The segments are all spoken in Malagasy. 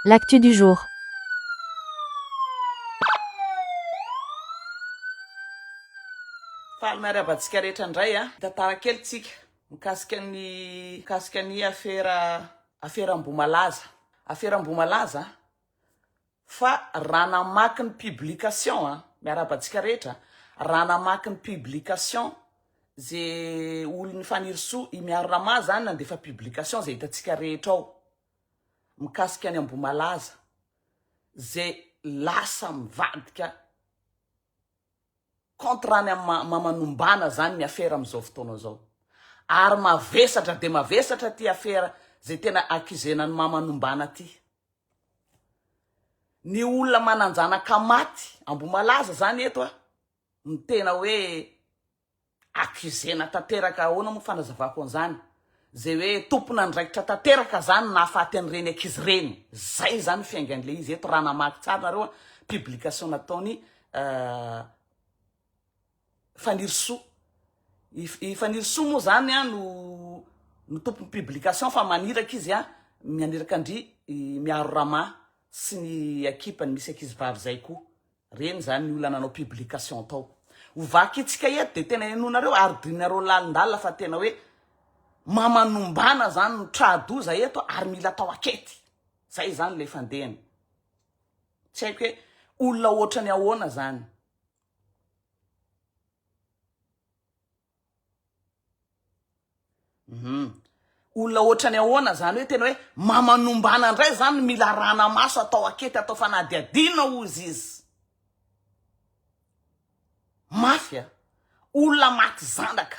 L'actu du jour. Faly miarahaba antsika rehetra indray a! Mitantara kely tsika mikasika ny mikasika ny afera afera Ambohimalaza. Afera Ambohimalaza Fa raha namaky ny publication a, miarahaba antsika rehetra, raha namaky ny publication ze olon'i Fanirisoa, i Miaro Rama zany nandefa publication ze hitantsika rehetra ao mikasika an'i Ambohimalaza ze lasa mivadika contre any amin'ny maha Manombana zany ny afera amin'izao fotoana izao. Ary mavesatra dia mavesatra ty afera ze tena accusena an'i maha Manombana ty. Ny olona manan-janaka maty Ambohimalaza zany eto a, no tena hoe accusena tanteraka, ahoana moa fanazavako an'izany, zay hoe tompon'andraikitra tanteraka zany ny nahafaty an'ireny ankizy ireny, zay zany ny fiaingan'ilay izy eto raha namaky tsara nareo a, publication nataony. Fanirisoa. I Fanirisoa moa izany no no tompon'ny publication fa maniraka izy mianiraka an-dry Miaro Rama sy ny ekipa-ny misy ankizivavy izay koa. Ireny izany ny olona nanao publication tao. Ho vakintsika eto dia tena henoinareo ary drinareo lalindalina fa tena hoe mamanombana izany no tra-doza eto ary mila atao ankety. Izay izany ilay fandehany. Tsy haiko hoe olona ohatrany ahoana izany. Hum. Olona ohatrany ahoana izany hoe tena hoe mamanombana indray izany mila arahana maso atao akety atao fanadihadiana hozy izy. Mafy a. Olona maty zanaka.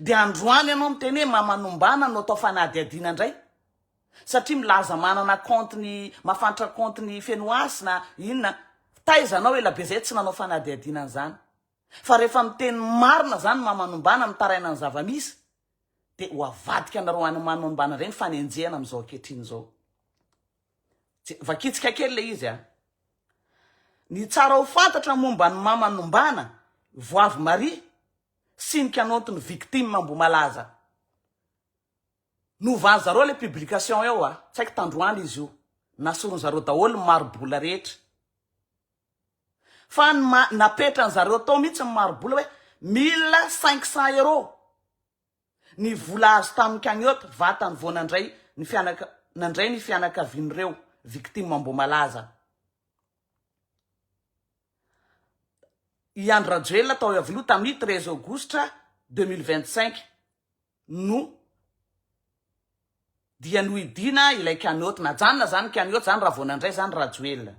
Dia androany ianao miteny hoe mamanombana no atao fanadihadiana indray satria milaza manana compte ny mafantra compte ny fenoazy na inona taiza anao elabe zay tsy nanao fanadihadiana an'izany fa rehefa miteny marina zany mamanombana mitaraina ny zavamisy dia ho avadika anareo any manombana ireny fanenjehana amin'izao ankehitriny izao Je, vakitsika kely le izy a ny tsara ho fantatra momba ny mamanombana voavy maria sy ny kanaonty ny victime Ambohimalaza. Novan'i zareo ilay publication eo a! Tsy haiko tandroany izy io. Nasoron'i zareo daholo ny mari-bola rehetra. Fa ny maha napetran'i zareo tao mihitsy ny mari-bola hoe mille cinq cents euros ny vola azo tamin'ny cagnotte vatany vao nandray ny fianaka nandray ny fianakavian'ireo victime Ambohimalaza. I Andry Rajoelina tao Iavoloha tamin'ny treize aogositra deux mille vingt cinq no dia nohidiana ilay cagnotte. Najanona izany ny cagnotte izany raha vao nandray izany Rajoelina.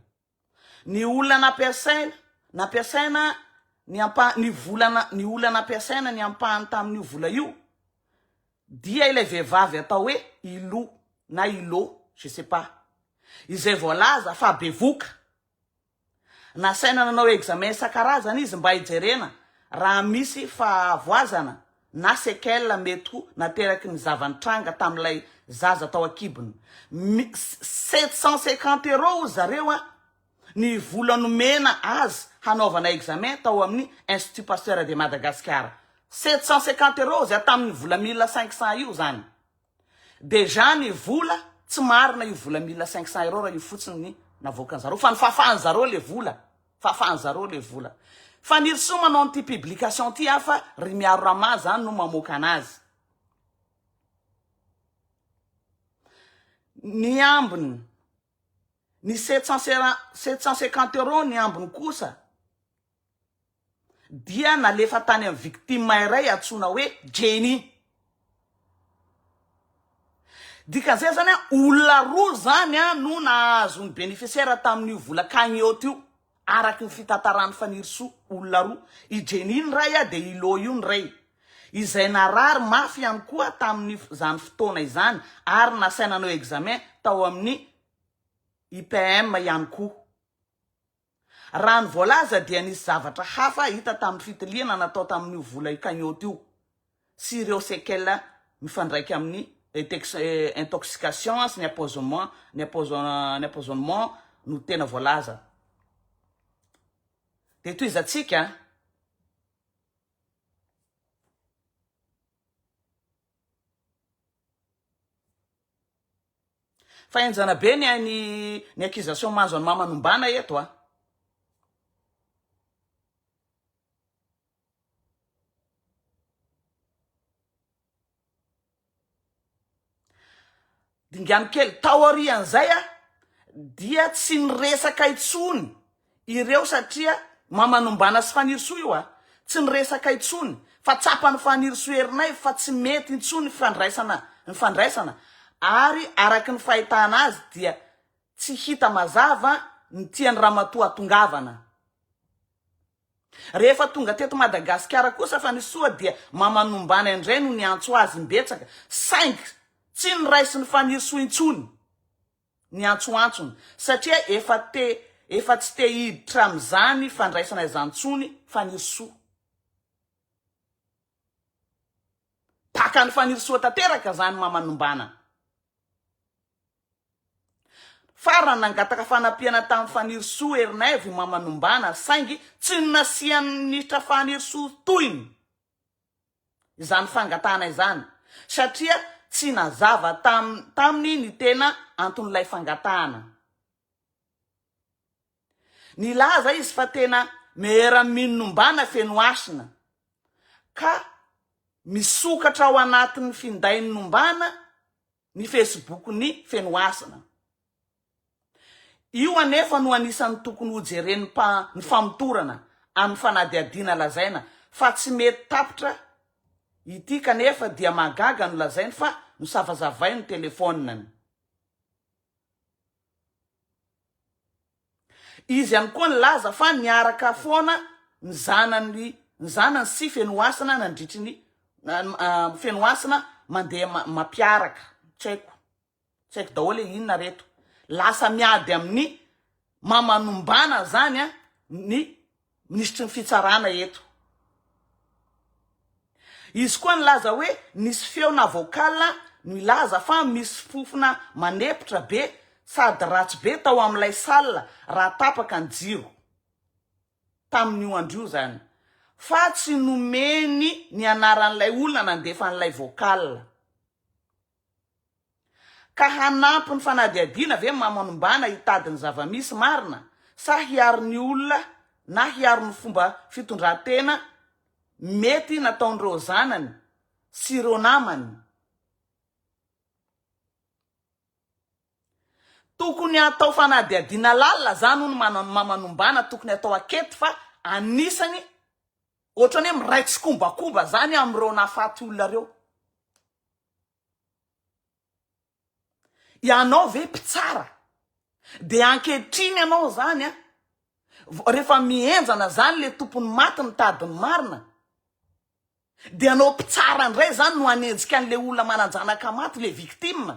Ny olona nampiasaina nampiasaina ny ampa ny vola ny olona nampiasaina ny ampahany tamin'io vola io Dia ilay vehivavy atao hoe Ilo na Ilo, je sais pas, izay voalaza fa bevoka. Nasaina nanao examen isan-karazany izy mba hijerena raha misy fahavoazana na séquelles mety ho nateraky ny zava-nitranga tamin'ilay zaza tao an-kibony. Mi, sept cent cinquante euros hoy zareo an! Ny vola nomena azy hanaovana examen tao amin'ny Institut Pasteur de Madagascar, sept cent cinquante euros zay tamin'ny vola mille cinq cents io zany. Déjà ny vola tsy marina io vola mille cinq cents euros raha io fotsiny ny navoakan'i zareo fa ny fafan'i zareo le vola, fafan'i zareo le vola. Fanirisoa manao an'ity publication ity aho fa ry Miaro Rama zany no mamoaka anazy. Ny ambiny. Ny sept cent sera sept cent cinquante euros ny ambiny kosa dia nalefa tany amin'ny victime iray antsoina hoe Jenny. Dikan'izay izany olona roa izany no nahazo ny bénéficiaire tamin'io vola cagnotte io. Araky ny fitantaran'i Fanirisoa, olona roa, i Jenny ny ray dia i Lo io ny reny, izay narary mafy ihany koa tamin'izany fotoana izany ary nasaina nanao examen tao amin'ny IPM ihany koa. Raha ny voalaza dia nisy zavatra hafa hita tamin'ny fitiliana natao tamin'io vola io cagnotte io. sy ireo séquelles mifandraika amin'ny intoxication sy ny empoisonnement no tena voalaza. Dia tohizantsika. Fa henjana be ny hain'ny ny accusation mahazo an'i Mama Nombana eto a! Dingano kely, taorian'izay dia tsy niresaka intsony ireo satria Mamanombana sy Fanirisoa io, tsy niresaka intsony fa tsapan'i Fanirisoa Erinaivo fa tsy mety intsony ny fandraisana ny fandraisana ary araka ny fahitana azy dia tsy hita mazava ny tian'i Ramatoa hatongavana. Rehefa tonga teto Madagasikara kosa fa ny soa dia Mamanombana indray no niantso azy imbetsaka saingy tsy niraisiny Fanirisoa intsony ny antsoantsony satria efa te efa tsy te hiditra amin'izany fandraisana izany intsony Fanirisoa. Baka an'i Fanirisoa tanteraka izany Mamanombana. Farany, nangataka fanampiana tamin'i Fanirisoa Herinaivo i Mama Nombana saingy tsy nasian'ny minisitra Fanirisoa tohiny izany fangatahana izany satria tsy nazava taminy ny tena anton'ilay fangatahana. Nilaza izy fa tena Maire Amino Nombana Fenohasina ka misokatra ao anatin'ny findain'i Nombana ny Facebook ny Fenohasina. Io anefa no anisan'ny tokony ho jeren'ny mpa ny famotorana amin'ny fanadihadiana lazaina fa tsy mety tapitra ity kanefa dia mahagaga no lazainy fa nosavazavainy ny telefoniny. Izy ihany koa nilaza fa niaraka foana ny zanany ny zanany sy Fenohasina nandritry ny Fenohasina mandeha mampiaraka. Tsy haiko. Tsy haiko daholo e inona re eto. Lasa miady amin'ny maman'ombana zany a ny Minisitry ny Fitsarana eto. Izy koa nilaza hoe nisy feona vocal milaza fa misy fofona manepotra be sady ratsy be tao amin'ilay salle raha tapaka ny jiro. Tamin'io andro io izany. Fa tsy nomeny ny anaran'ilay olona nandefa an'ilay vocal. Ka hanampy ny fanadihadiana ve mamanombana hitady ny zava-misy marina sa hiaro ny olona na hiaro ny fomba fitondran-tena mety nataon'ireo zanany sy ireo namany? Tokony atao fanadihadiana lalina zany hono ny mamanombana tokony atao ankety fa anisany otrany hoe miray tsikombakomba zany amin'ireo nahafaty olona ireo. Ianao ve mpitsara de ankehitriny ianao zany a rehefa mihenjana zany le tompon'ny maty mitady ny marina de ianao mpitsara ndray zany no hanenjika an'le olona manan-janaka maty le victime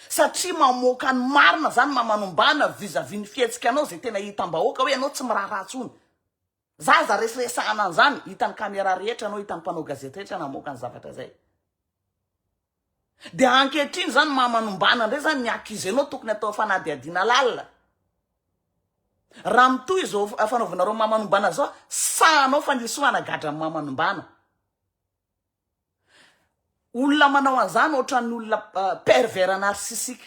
satria mamoaka ny marina zany maman'ombàna vis-à-vis ny fihetsikanao zay tena hitam-bahoaka hoe ianao tsy miraharaha tsony. Za aza reseresahana an'izany, hitan'ny caméra rehetra anao, hitan'ny mpanao gazety rehetra namoaka ny zavatra izay. Dia ankehitriny izany maha manombana indray izany ny accuse-nao tokony atao fanadihadiana lalina. Raha mitohy izao fanaovanareo maha manombana izao, sahanao fa ny soa hanagadra ny maha manombana. Olona manao an'izany ohatran'ny olona pervers narcissique.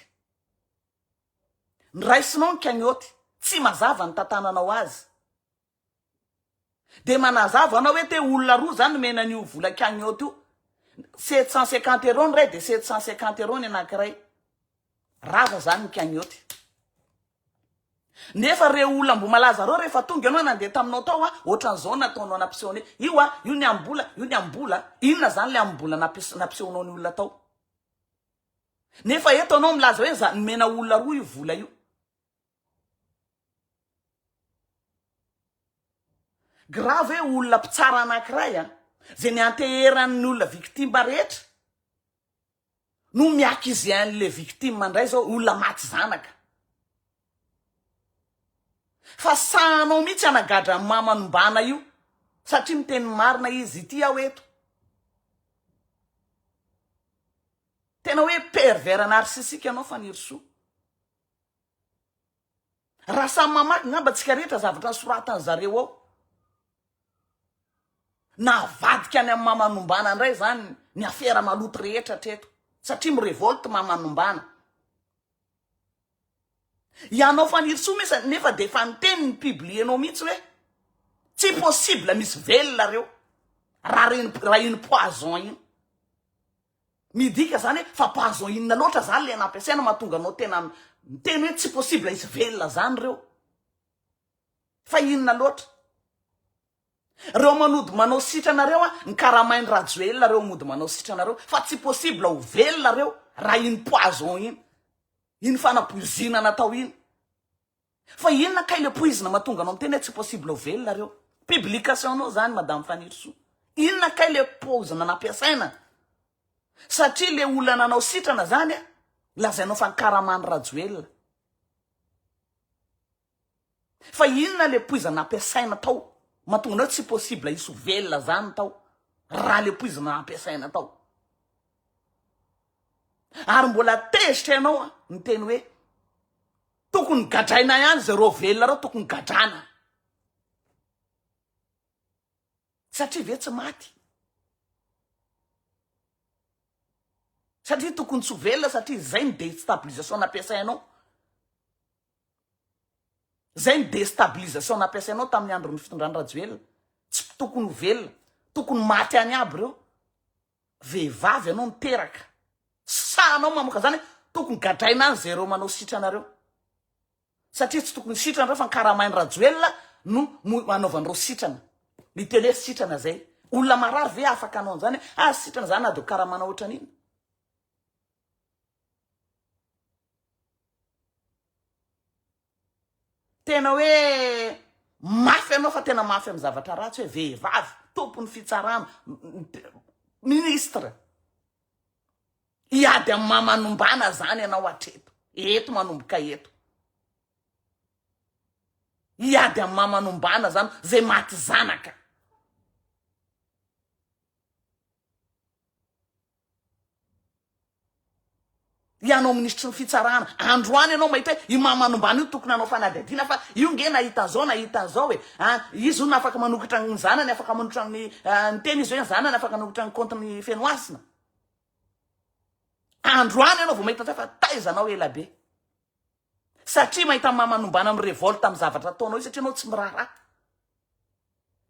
Ny raisinao ny cagnotte tsy mazava ny tantananao azy de manazava anao hoe te olona roa za nomena an'io vola cagnotte io sept cent cinquante euros ny ray de sept cent cinquante euros ny anakiray rava zany ny cagnotte nefa re olona ambomalaza reo rehefa tonga ianao nandeha taminao tao a ohatran'izao nataonao nampiseho anao io a io ny ambola io ny ambola inona zany le ambola nampisy nampisehonao ny olona tao Nefa eto anao milaza hoe za nomena olona roa io vola io. Grave hoe olona mpitsara anankiray a, zay nianteheran'ny olona victime rehetra no mi-accuser an'le victime indray zao olona maty zanaka. Fa sahanao mihitsy hanagadra an'i Mama Nombana io satria miteny marina izy, ity aho eto. Tena hoe pervers narcissique ianao Fanirisoa. Raha samy mamaky ngamba tsika rehetra zavatra soratan'ny zareo ao. Navadika any amin'ny Mama Nombana indray zany ny afera maloto rehetra hatreto satria mirevolte Mama Nombana. Ianao Fanirisoa mesa nefa dia efa niteny ny publier-nao mihitsy hoe tsy possible misy velona reo raha reny raha iny poison iny. Midika zany hoe fa poison inona loatra zany le nampiasaina mahatonga anao tena miteny hoe tsy possible hisy velona zany reo. Fa inona loatra? Reo manody manao sitrana reo a ny karamain rajoelina reo mody manao sitrana reo fa tsy possible ho velona reo raha iny poison iny iny fanapoizinana natao iny fa inona kay le poizina matonga anao miteny hoe tsy possible ho velona reo publication nao zany madame fanirisoa inona kay le pozina nampiasaina satria le olona nanao sitrana zany a lazainao fa ny karaman'i rajoelina Fa inona le poizina ampiasaina tao mahatonga anao tsy possible hisy ho velona zany tao raha le poizina ampiasaina tao. Ary mbola tezitra ianao a, miteny hoe tokony gadraina ihany zareo velona reo tokony gadrana. Satria ve tsy maty? Satria tokony tsy ho velona satria izay ny destabilisation nampiasainao. Izay ny destabilisation nampiasainao tamin'ny andron'ny fitondrany Rajoelina. Tsy tokony ho velona. Tokony maty any aby ireo. Vehivavy ianao niteraka. Sahanao mamoka izany hoe tokony gadraina any izay ireo manao sitranareo. Satria tsy tokony sitrana ireo fa ny karamain'i Rajoelina no anaovan'ireo sitrana. Ny teny hoe sitrana izay. Olona marary ve afaka hanao an'izany hoe ah sitrana izany na dia ho karamana ohatran'inona. Tena hoe mafy ianao fa tena mafy amin'ny zavatra ratsy hoe vehivavy tompon'ny fitsarana ministre hiady amin'ny maha manombana zany ianao hatreto eto manomboka eto hiady amin'ny maha manombana zany zay maty zanaka Ianao minisitry ny fitsarana, androany ianao mahita hoe i mama nombana io tokony hanao fanadihadiana fa io nge nahita zao nahita zao e, a izy hono afaka manokatra ny zanany afaka manotra ny ny teny izy hoe ny zanany afaka nanokatra ny compte ny Fenohasina. Androany ianao vao mahita an'izay fa taiza anao ela be. Satria mahita mama nombana mi-revolte amin'ny zavatra ataonao io satria ianao tsy miraharaha.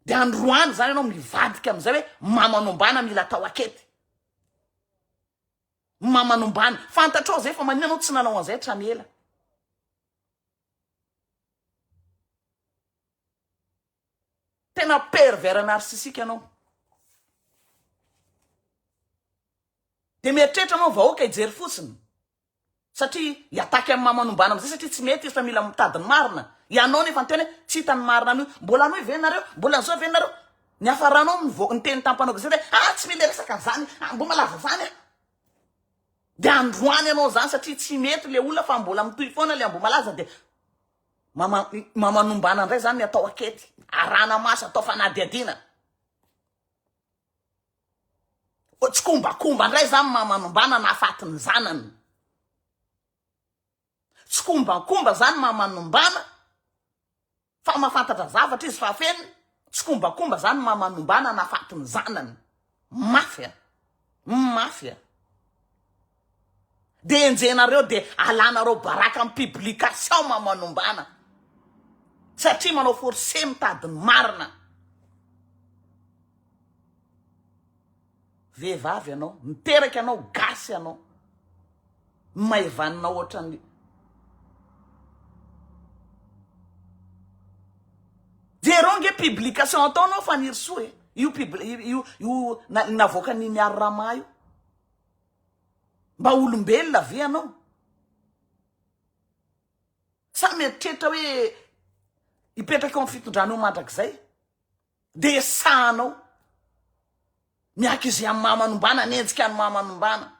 Dia androany izany ianao mivadika amin'izay hoe mamanombana mila atao akety. Mamanombana. Fantatrao izay fa maninona ianao tsy nanao an'izay hatrany ela. Tena pervers narcissique ianao. Dia mieritreritra ianao vahoaka hijery fotsiny. satria hiataky amin'ny mamanombana amizay satria tsy mety izy fa mila mitady ny marina ianao nefa niteny hoe tsy hita ny marina anio mbola anoy ve nareo mbola zao ve nareo ny hafaranao mivoaka ny teny tampanao gazety hoe ah tsy mila resaka an'izany ah mbo malaza zany ah de androany ianao zany satria tsy mety le olona fa mbola mitohy foana le ambomalaza de mama mamanombana indray zany ny atao akety arana maso atao fanadihadiana Fa tsikombakomba ndray zany maha manombana nahafaty ny zanany. Tsikombakomba zany maha manombana fa mafantatra zavatra izy fa feno. Tsikombakomba zany maha manombana nahafaty ny zanany. Mafy a. Mafy a. Dia enjehinareo dia alanareo baraka am publication mamanombana satria manao force mitady ny marina. Vehivavy ianao, niteraka ianao, gasy ianao, maivanina ohatran'ny Jereo ange publication ataonao Fanirisoa e, io pub io io na navoakan'i Miary Rama io. Mba olombelona ve ianao? Sa mieritreritra hoe hipetraka eo amin'ny fitondrana eo mandrakizay? Dia esahanao. Miaky izay amin'ny maha manombana, mienjika ny maha manombana.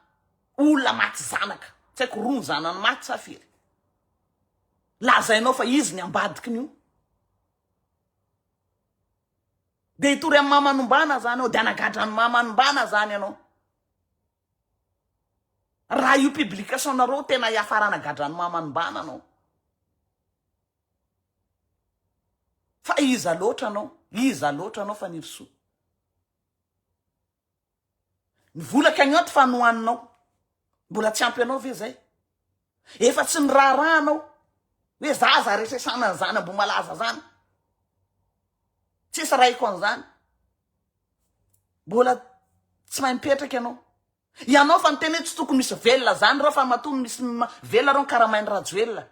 Olona maty zanaka. Tsy haiko roa ny zanany maty sa firy. Lazainao fa izy ny ambadiky ny io. Dia hitory amin'ny maha manombana zany ao, dia hanagadra ny maha manombana zany ianao. Raha io publication nareo tena hiafarana gadrano mamanimbana anao. Fa iza loatra anao? Iza loatra anao Fanirisoa? Ny vola cagnotte fa nohaninao. Mbola tsy ampy anao ve zay? Efa tsy niraharahanao hoe za aza resesana an'izany Ambohimalaza zany. Tsisy raiko an'izany. Mbola tsy mahay mipetraka ianao. Ianao fa niteny hoe tsy tokony misy velona zany reo fa matoa misy velona reo karamain'i Rajoelina.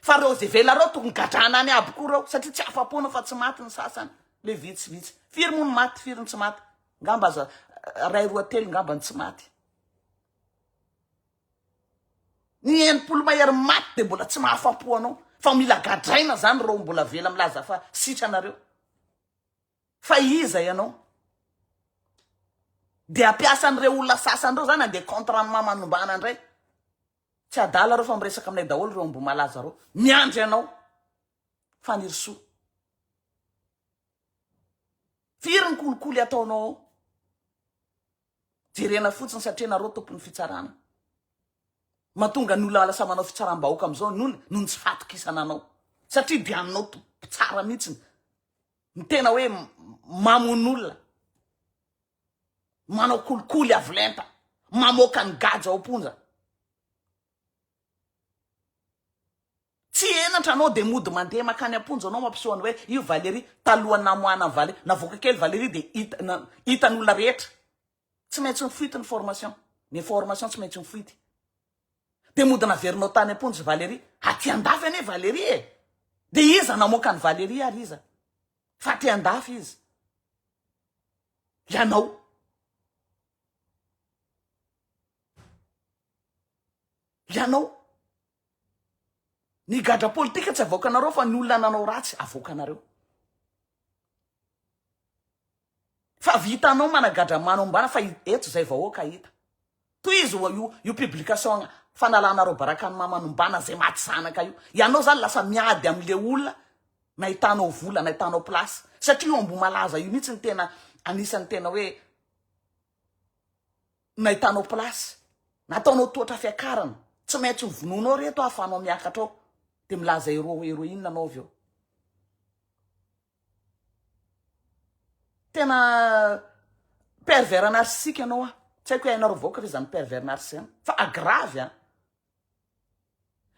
Fa reo ze velona reo tokony gadrana any aby koa reo satria tsy afapoana fa tsy maty ny sasany le vitsivitsy. Firy moa ny maty firy ny tsy maty. Ngamba aza ray roa telo ngamba ny tsy maty. Ny enimpolo mahery maty de mbola tsy mahafapo anao fa mila gadraina zany reo mbola vela milaza fa sitranareo. Fa iza ianao? Dia hampiasa an'ireo olona sasany ireo zany handeha contre an'i Mama Nombana indray? Tsy adala ireo fa miresaka aminay daholo ireo Ambohimalaza ireo. Miandry anao Fanirisoa. Firy ny kolikoly ataonao ao? Jerena fotsiny satria nareo tompon'ny fitsarana. Matonga ny olona lasa manao fitsaram-bahoaka amin'izao ny olona noho ny tsy fahatokisana anao. Satria dia anao to- mpitsara mihitsiny. Ny tena hoe mamono olona, manao kolikoly avo lenta, mamoaka ny gadra ao am-ponja. Tsy henatra anao dia mody mandeha makany am-ponja anao mampiseho anao hoe io Valérie, talohan'ny namoahana an'i Valérie, navoaka kely Valérie dia hita na- hitan'olona rehetra Tsy maintsy mifoity ny formation. Ny information tsy maintsy mifoity. Dia mody naverinao tany am-ponja i Valérie. Aty an-dafy anie Valérie e! Dia iza namoaka an'i Valérie ary iza? Fa aty an-dafy izy. Ianao. Ianao. Ny gadra politika tsy avoakanareo fa ny olona nanao ratsy avoakanareo. Fa vitanao managadra mano ambana fa eto zay vahoaka hita. Tohizo wa io io publication fanalanareo baraka ny mamano mbana zay maty zanaka io. Ianao zany lasa miady amle olona nahitanao vola nahitanao place satria io Ambohimalaza io mihitsy ny tena anisany tena hoe nahitanao place, nataonao tohatra fiakarana, tsy maintsy ho vonoinao reto ahafahanao miakatra ao, dia milaza hero heroine anao avy eo. Tena pervers narcissique ianao an. Tsy haiko hoe hainareo vahoaka ve izany pervers narcissique izany fa grave an.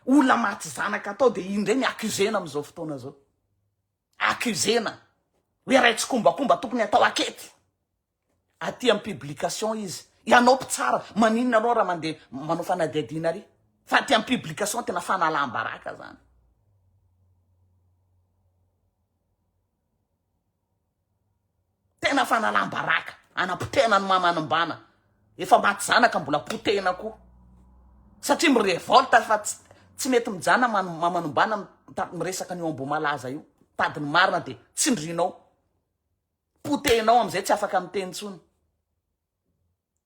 Olona maty zanaka atao dia iny indray ny accusena amin'izao fotoana izao. Accusena hoe ray tsikombakomba tokony atao ankety. aty am publication izy ianao mpitsara maninona anao raha mande manao fanadihadiana ary fa aty am publication tena fanalam-baraka zany tena fanalam-baraka anapotehana ny mamanimbana efa maty zanaka mbola potehina koa satria mirevolte fa tsy tsy mety mijana man- mamanimbana mitady miresaka an'io amboa malaza io tady ny marina dia tsindrinao potehinao amizay tsy afaka miteny tsony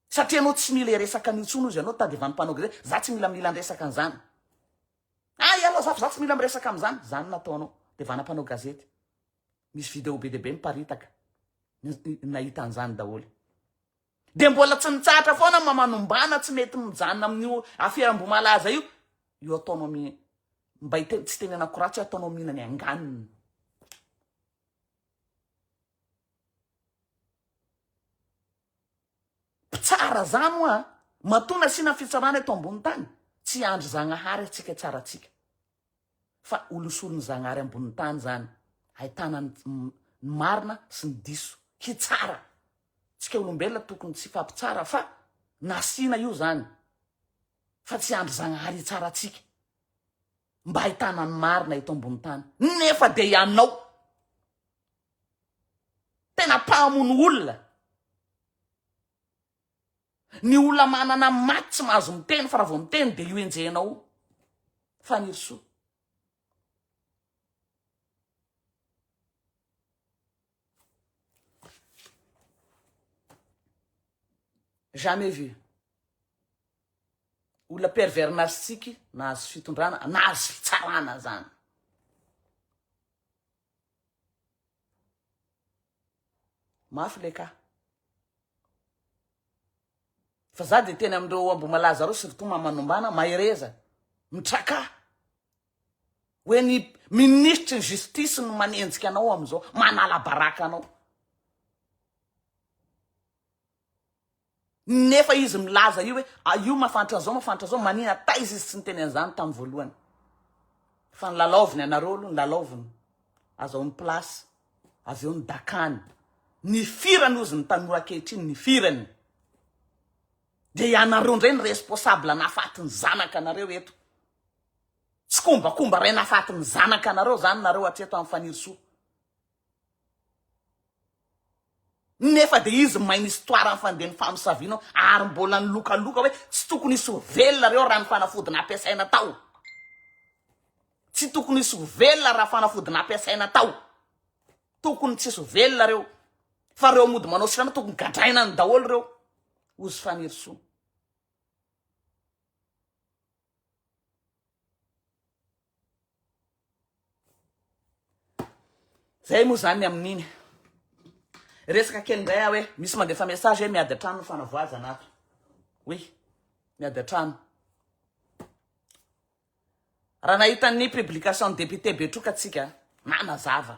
satria anao tsy mila resaka anio tsony ozy anao tadivany mpanao gre za tsy mila mila nresaka anzany a ianao zafo za tsy mila miresaka amizany zany nataonao de vana mpanao gazety misy video be debe miparitaka nahita anzany daholo de mbola tsy mitsahatra foana mamanombana tsy mety mijanona amin'io afiram-bomalaza io io ataonao mi mba tsy tenenako ratsy ataonao mihinany anganiny Mpitsara zany hoa a! Matoa nasiana fitsarana eto ambony tany, tsy hiandry Zagnahary atsika hitsara atsika. Fa holosorin'i Zagnahary ambony tany zany, ahitana ny ny marina sy ny diso, hitsara. Tsika olombelona tokony tsy hifampitsara fa nasiana io zany, fa tsy hiandry Zagnahary hitsara atsika. mba ahitana ny marina eto ambony tany nefa dia ianao tena mpahamono olona ny olona manana maty tsy mahazo miteny fa raha vao miteny dia io enjehinao fanirisoa Jamais vu. Olona pervers narcissique nahazo fitondrana, nahazo fitsarana zany. Mafy le ka. Fa za de teny amindreo ambo malaza reo surtout mamanombana, mahereza, mitraka. Hoe ny minisitry ny justice no manenjika anao amin'izao, manala baraka anao. Nefa izy milaza io hoe ah, io mafantra an'izao, mafantra an'izao, manina taiza izy tsy niteny an'izany tamin'ny voalohany. Fa ny lalaoviny anareo aloha ny lalaoviny, azahoany place, avy eo ny dakany. Ny firany ozy ny tanora ankehitriny, ny firany. Dia ianareo indray ny responsable nafaty ny zanaka anareo eto. Tsikombakomba ray nafaty ny zanaka nareo zany nareo hatreto any fanirisoa nefa de izy main histoire ny fandehany famosaviana ary mbola nilokaloka hoe tsy tokony hisy ho velona reo raha ny fanafody nampiasaina tao tsy tokony hisy ho velona raha fanafody nampiasaina tao tokony tsy hisy ho velona reo fa reo mody manao sirana tokony gadraina ny daholo reo ozy fanirisoa Zay moa zany ny amin'iny. Resaka kely indray aho hoe misy mandefa message hoe miady an-trano ny fanavoazana ato. Oui, miady an-trano. Raha nahita ny publication-n'ny député Betroka tsika, nanazava.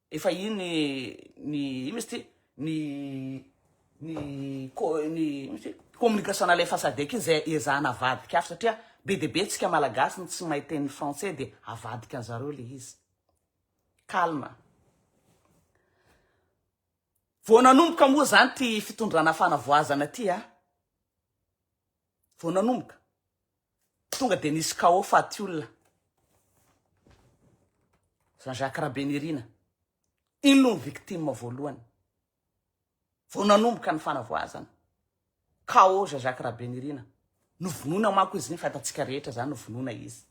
Efa iny ny ino izy ty ny ny ny ino izy ty communication na lefa sadec iny zay ezahana avadika afo satria be dia be tsika malagasy no tsy mahay teny français dia avadika an zareo le izy calme vao nanomboka moa zany ty fitondrana fanavoazana ty a vao nanomboka Tonga dia nisy chaos faty olona. Jean Jacques Rabenirina, iny no victime voalohany. Vao nanomboka ny fanavoazana. Chaos Jean Jacques Rabenirina. Novonoina manko izy iny fa hitantsika rehetra izany novonoina izy.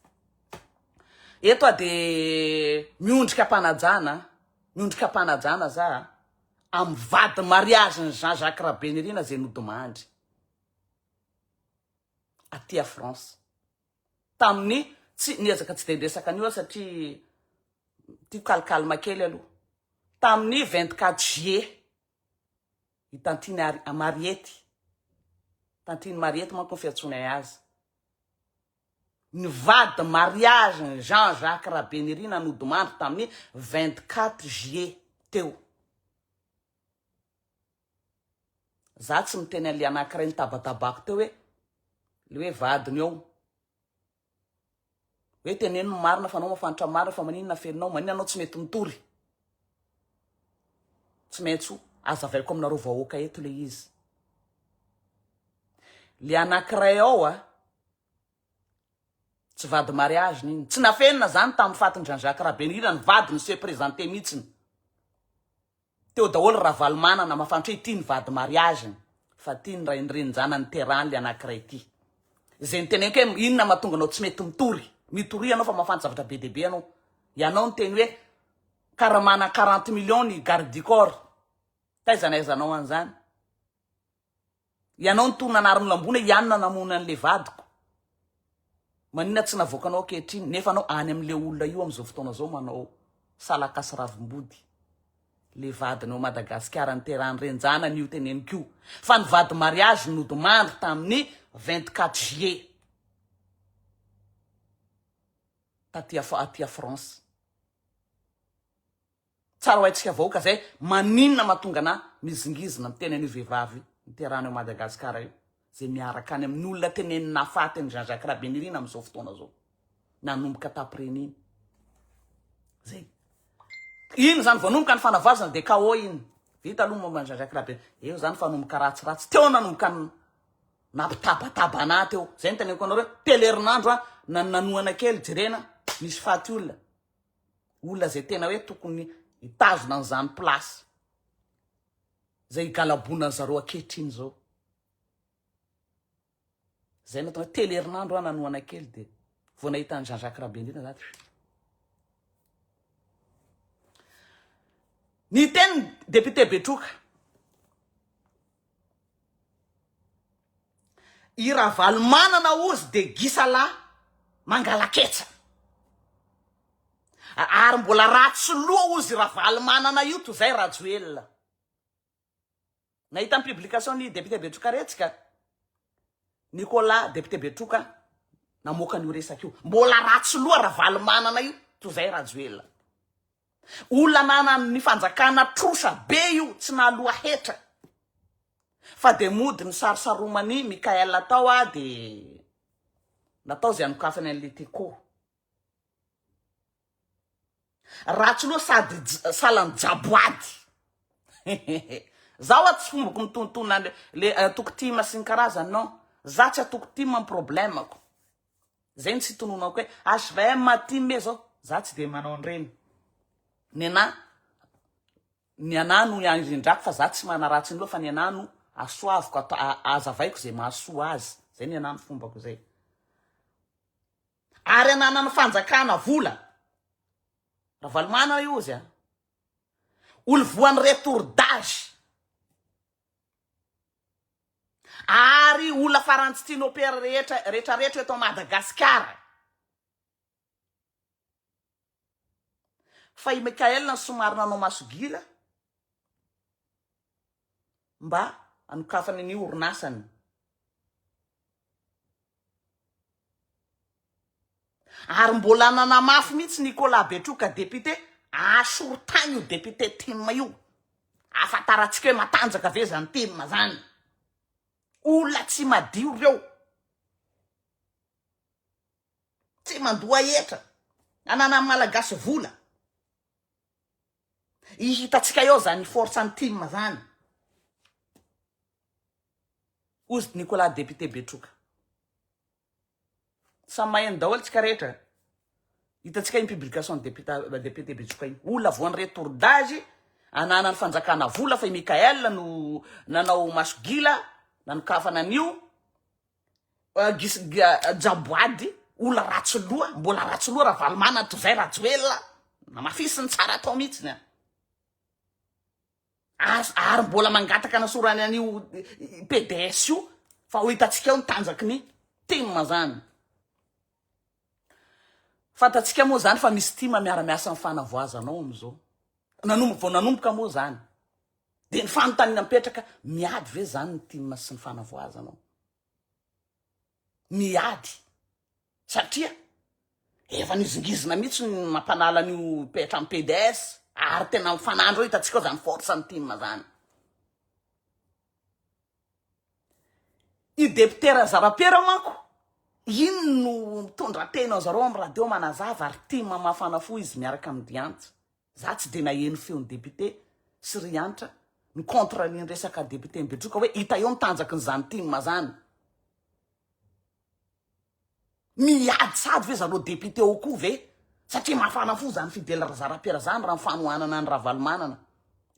Eto a dia miondrika mpanajana, miondrika mpanajana za amin'ny vady mariazin'i Jean Jacques Rabenirina izay nodimandry. aty a France tamin'ny tsy niezaka tsy dia niresaka an'io aho satria tiako calcalme kely aloha tamin'ny 24 juillet i tantine Ari- mariety tantine mariety manko ny fiantsoanay azy ny vady mariage ny Jean Jacques Rabenirina nodimandry tamin'ny 24 juillet teo Za tsy miteny an'le anakiray nitabatabako teo hoe le hoe vadiny eo hoe teneno ny marina fa anao mafantra marina fa maninona afeninao maninona anao tsy mety mitory tsy maintsy azavaiko aminareo vahoaka eto le izy le anakiray ao a tsy vady mariage n'iny tsy nafenina zany tamin'ny fatin-dRanjaka Rabenirina ny vadiny se présenter mihitsiny Teo daholo Ravalomanana mafantra hoe ity ny vady mariage-ny fa ity ny rainirenin-janany niterahany le anakiray ity. Izay niteneniko hoe inona no mahatonga anao tsy mety mitory. Mitoria anao fa mahafanty zavatra be dia be anao. Ianao niteny hoe karaha manana quarante millions ny garde du corps. Taiza nahaizanao an'izany. Ianao no toa nanary ny lambona iany nanamono anle vadiko manina tsy navoakanao ankehitriny nefa anao any amle olona io amzao fotoana zao manao salaka sy ravimbody le vadiny ao Madagasikara niterany renjanany io teneniko io fa ny vady mariage nodimandry taminy 24 juillet taty aty a France Tsara ho haintsika vahoaka zay maninona mahatonga anah mizingizina miteny an'io vehivavy niterahana ao Madagascar io zay miaraka any amin'ny olona teneniny nahafaty an'i Jean Jacques Rabenirina amin'izao fotoana zao nanomboka tapriny iny zay iny zany vao nomboka ny fanavazana de KO iny vita aloha momba an'i Jean Jacques Rabenirina eo zany fa nomboka ratsiratsy teo nanomboka ny nampitabataba anah teo zay ny teneniko anareo telo herinandro a nanohana kely jerena misy faty olona olona zay tena hoe tokony hitazona an'izany place zay higalabona an'i zareo ankehitriny zao. Zay no tena telo herinandro aho nanohana kely dia vao nahita an'i Jean Jacques Rabendrina za dia Ny teny député Betroka I Ravalomanana ozy de gisala mangalaketsa. Ary mbola ratsy loha ozy i Ravalomanana io toy zay Rajoelina. Nahita ny publication ny député Betrokaretsika Nicolas député Betroka namoaka an'io resaka io. Mbola ratsy loha Ravalomanana io toy zay Rajoelina. Olona ananan'ny fanjakana trosa be io tsy nahaloa hetra fa dia mody nisarosaroman'i Mickaël tao a dia natao izay anokafany an'ilay Teko. Ratsy loha sady salan'ny jaboady. Zaho tsy fombako mitontona le eh, atoko tim sy ny karazany non. Za tsy atoko tim am problème-ko. Zay no tsy tononako hoe HVM aty me zao za tsy de manao an'ireny. Ny anah ny anah no iangindrako fa za tsy manaratsy ny loha fa ny anah no asoaviko ato azavaiko ze mahasoa azy. Zay ny anah ny fombako zay. Ary ananan'ny fanjakana vola. Ravalomanana io ozy a. Olo voan'ny retour d'age. Ary olona farany tsy tianao père rehetra rehetra rehetra eto Madagasikara. Fa i Michael no somary nanao masogira mba hanokafany ny orinasany. Ary mbola nanamafy mihitsy Nicolas Betroka député, asorotany io député tim io, ahafantarantsika hoe matanjaka ve zany tim zany. Olona tsy madio reo. Tsy mandoa hetra. Ananan'ny malagasy vola. I hitantsika eo zany force ny tim zany. Ozy Nicolas député Betroka. Samy maheno daholo tsika rehetra. Hitantsika iny publication ny député Betsoka iny. Olona voan'ireo tourdazy ananan'ny fanjakana vola fa i Michael no nanao maso gila nanokafana an'io jaboady olona ratsy loha mbola ratsy loha Ravalomanana toy izay Rajoelina namafisiny tsara atao mihitsy ny As, ary mbola mangataka anasorany an'io PDS io fa ho hitantsika eo ny tanjaky ny tim zany. Fantantsika moa zany fa misy tim miara miasa amin'ny fanavoazana ao amin'izao. Nanombo, vao nanomboka moa zany. Dia ny fanontaniana mipetraka, miady ve zany ny tim sy ny fanavoazana ao? miady satria efa nizingizina mihitsy ny mampanala an'io petra amin'ny PDS ary tena mifanandro eo hitantsika izany force ny tim izany. I député Razarapera manko iny no mitondra teny anzareo amin'ny radio manazava ary tim mafana fo izy miaraka amin'ny Diantsa. Za tsy dia naheno feon'i député sy ry Hanitra ny contre ny resaka député Betroka hoe hita eo ny tanjaky ny zany tim zany. Miady sady ve zareo député ao koa ve satria mafana fo zany Fidèle Razarapiera zany raha ny fanohanana an'i Ravalomanana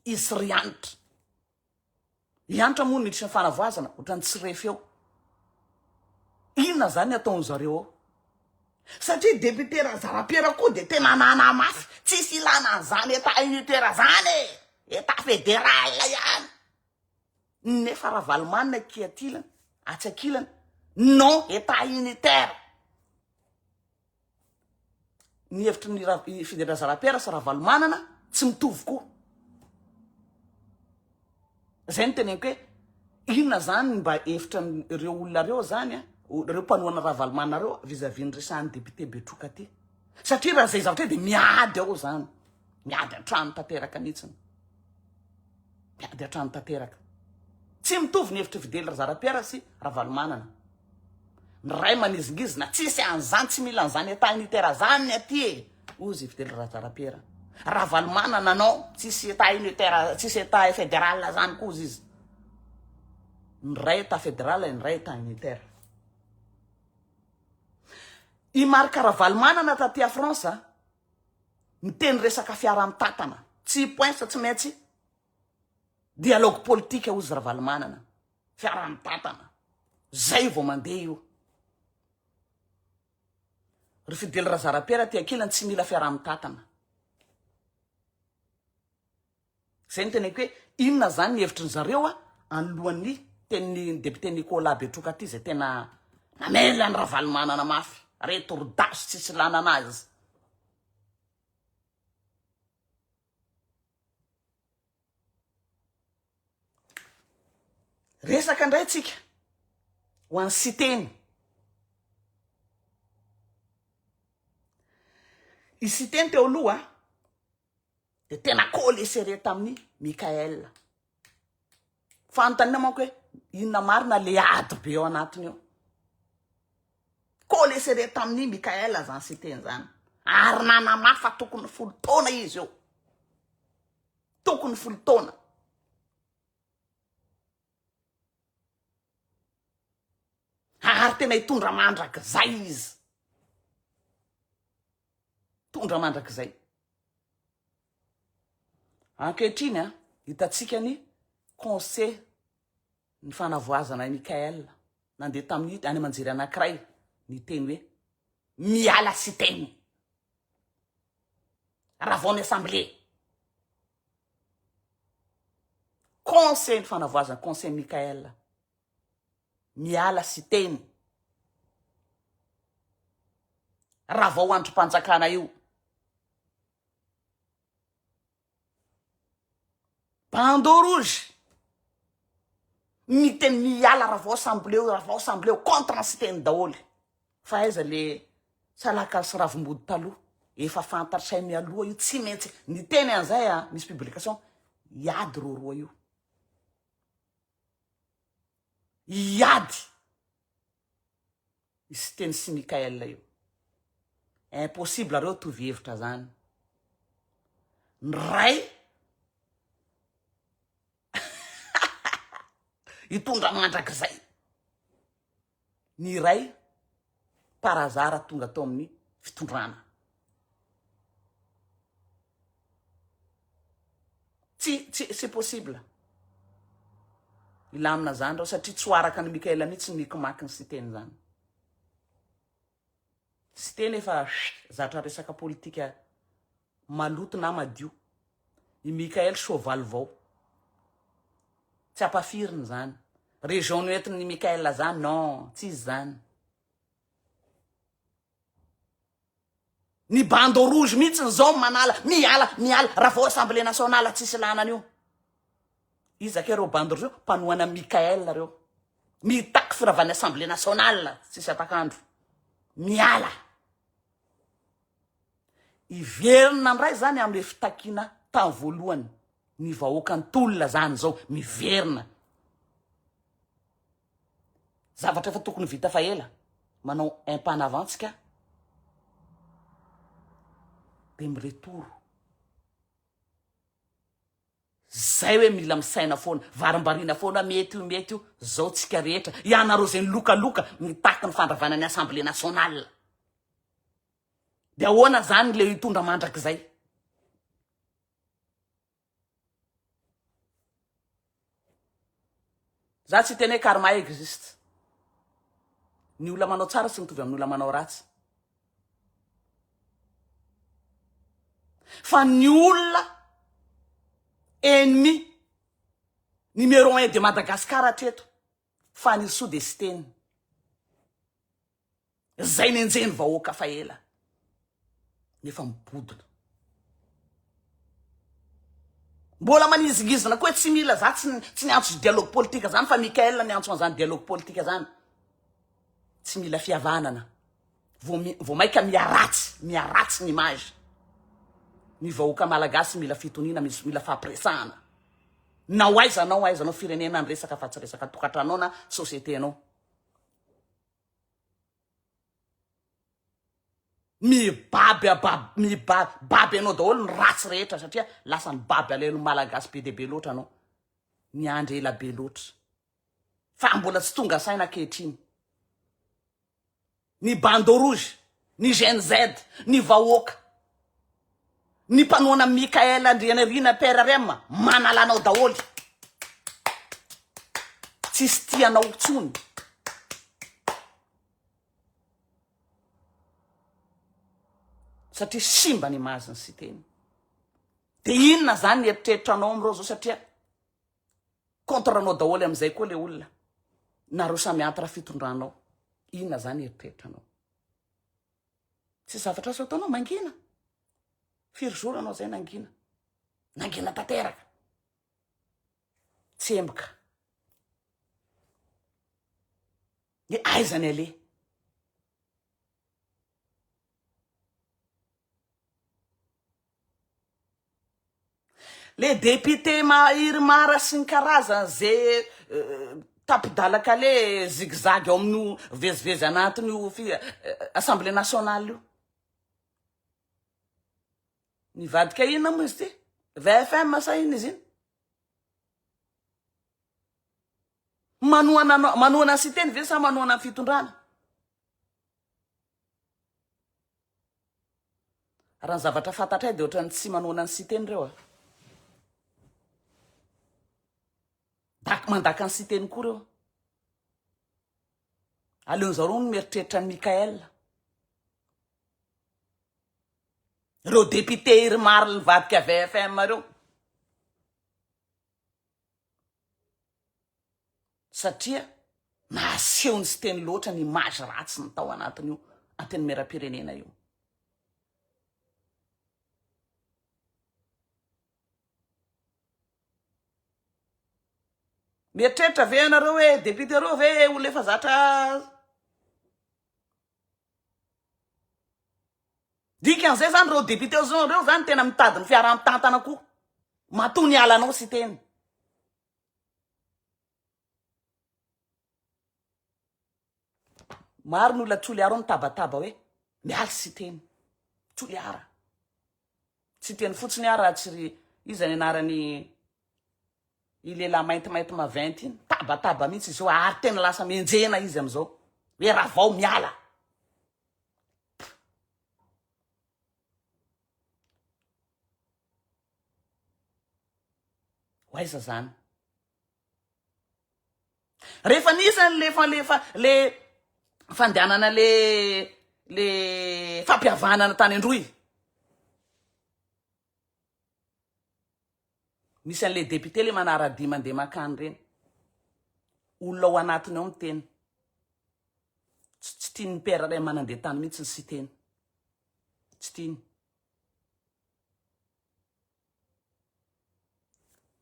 izy sy ry Hanitra. I Hanitra moa niditra fanavoazana otrany tsy refy eo. Inona zany ataony zareo ao? Satria député Razarapiera koa dia tena nana mafy, tsisy ilana an'izany état unitaire zany e, état fédéral ihany. Nefa Ravalomanana aty atilany, atsy akilany, non état unitaire. ny hevitry ny Ra- i Fidian-drazalahy Pierre sy Ravalomanana tsy mitovy koa. Zay ny teneniko hoe inona zany ny mba hevitra ny- ireo olona ireo zany a, o- ireo mpanohana Ravalomanana ireo vis-à-vis ny resahan'ny député Betroka ty. Satria raha zay zavatra dia miady ao zany. Miady an-trano tanteraka mihitsy. Miady hatrany tanteraka. Tsy mitovy ny hevitr'i Fidèle Razarapiera sy Ravalomanana. Ny ray manizingizina, tsisy an'izany, tsy mila an'izany état unitaire azany ny aty e, hozy i Fidèle Razarapiera. Ravalomanana non, tsisy état unitaire, tsisy état fédéral azany koa hozy izy. Ny ray état fédéral, ny ray état unitaire. I Marc Ravalomanana taty à France, Miteny resaka fiaraha-mitatana, tsy poinsa tsy maintsy dialogue politique hozy Ravalomanana, fiaraha-mitatana, zay vao mandeha io. Ry Fidèle Razarapiera aty ankilany tsy mila fiaraha-mitatana. Izay no teneniko hoe inona izany ny hevitry ny zareo a, anoloan'ny tenin'ny député Nicolas Betroka ity izay tena namely an'i Ravalomanana mafy, retordaso tsisy ilana anazy. Resaka indray tsika ho an'i Siteny. I Siteny teo aloha Dia tena coller serré tamin'i Mickaël. Fanontaniana manko hoe inona marina le ady be ao anatiny ao. Coller serré tamin'i Mickaël zany siteny zany. Ary nanamafy fa tokony folo taona izy eo. Tokony folo taona. Ary tena hitondra mandrakizay izy. Tondra mandrakizay. Ankehitriny a, hitantsika ny conseil ny fanavoazana i Michael. Nandeha tamin'ny any aman-jery anankiray niteny hoe miala siteny. Ravao ny assemblée. Conseil ny fanavoazana, conseil Michael. Miala Siteny. Raha vao andrim-panjakana io. Bandeau rouge. Miteny miala raha vao samboleo, raha vao samboleo contre ny Siteny daholo. Fa aiza le salakalo sy ravimbody taloha? Efa fantatr'zay mialoha io, tsy maintsy niteny an'zay a, misy publication hiady roroa io. hiady i Siteny sy Mickaël io. Impossible reo tovy hevitra zany. Ny ray hitondra mandrakizay. ny iray par hasard tonga tao amin'ny fitondrana. Tsy, tsy, tsy possible. Hilamina zany reo satria tsy ho araka an'i Mickaël mihitsy ny hikimaka ny siteny zany. Siteny efa zatra resaka politika maloto na madio. I Mickael soavaly vao. Tsy ampafirina izany. Région noentin'i Mickael zany non, tsy izy zany. Ny bandeau rouge mihitsiny zao no manala, miala, miala, raha vao assemblée nationale tsisy lana an'io. Iza kay reo bandy reo? Mpanohana Mickael reo. Mitaky firavan'ny assemblée nationale tsisy atak'andro. Miala. Hiverina ndray zany amle fitakiana tany voalohany ny vahoaka ny tolona zany zao miverina. Zavatra efa tokony vita fa ela. Manao un pas en avant tsika de mi-retour. Zay hoe mila misaina foana, varimbariana foana mety io mety io, zao tsika rehetra, ianareo zay nilokaloka nitaky ny fandravana ny Assemblée nationale. De ahoana zany le hitondra mandrakizay? Za tsy hiteny hoe karma existe. Ny olona manao tsara tsy mitovy amin'ny olona manao ratsy. Fa ny olona ennemi numéro un de Madagascar hatreto. Fanirisoa dia Siteny izay nenjehin'ny vahoaka fa ela nefa mibodona. Mbola manizingizina koa hoe tsy mila za tsy tsy niantso dialogue politique zany fa Michael niantso an'izany dialogue politique zany. Tsy mila fihavanana. Vao vao maika miharatsy, miharatsy ny image. Ny vahoaka malagasy mila fitoniana, mis- mila fahapiresahana. Na ho aiza anao, aiza anao firenena ny resaka fa tsy resaka tokantranonao na société anao. Mibaby abab- miba- baby anao daholo ny ratsy rehetra satria lasa ny baby alain'ny malagasy be dia be loatra anao. Niandry ela be loatra. Fa mbola tsy tonga saina ankehitriny. ny bandeau rouge, ny Gen Z, ny vahoaka, ny mpanohana Mickaël Andrianirina PRRM manala anao daholo. Tsisy tia anao tsony. Satria simba ny image-n'i Siteny. Dia inona zany ny eritreritranao amin'ireo zao satria. contre anao daholo amizay koa le olona nareo samy entre fitondranao inona zany eritreritranao tsy zavatra azo ataonao mangina firy jour anao zay nangina nangina tanteraka tsy emboka ny aizany aleha Le député ma irmara sy ny karazany ze tapidalakale zigzag ao amin'io vezivezy anatin'io fi- assemblée nationale io nivadika inona moa izy ty vfm sa inona izy iny manohana anao manohana ny siteny ve sa manohana ny fitondrana Raha ny zavatra fantatray dia ohatran'ny tsy manohana an'i Siteny ireo a. Dak mandaka an'i Siteny koa ireo. Aleon'izao ireo no mieritreritra an'i Mickaël. Ireo député Irmar nivadika VFM ireo. satria nahaseho ny siteny loatra ny image ratsy ny tao anatin'io antenimieram-pirenena io. Mieritreritra ve ianareo hoe député roa ve olona efa zatra Dikan'izay izany ireo député ireo izany tena mitady ny fiaraha-mitantana koa. Matoa nialanao Siteny. Maro ny olona Toliara ao mitabataba hoe Mialy Siteny. Toliara. Siteny fotsiny aho raha tsy ry iza ny anarany i lehilahy maintimainty maventy iny. Tabataba mihitsy izy io ary tena lasa mienjehina izy amin'izao. Hoe Ravao miala. Ho aiza izany? Rehefa nisy an'lefa lefa le fandehanana le le fampihavanana tany an-droy. Misy an'le député le manaradia mandeha makany ireny. Olona ao anatiny ao miteny. Tsy tian'ny père iray manandeha tany mihitsy ny siteny. Tsy tiany.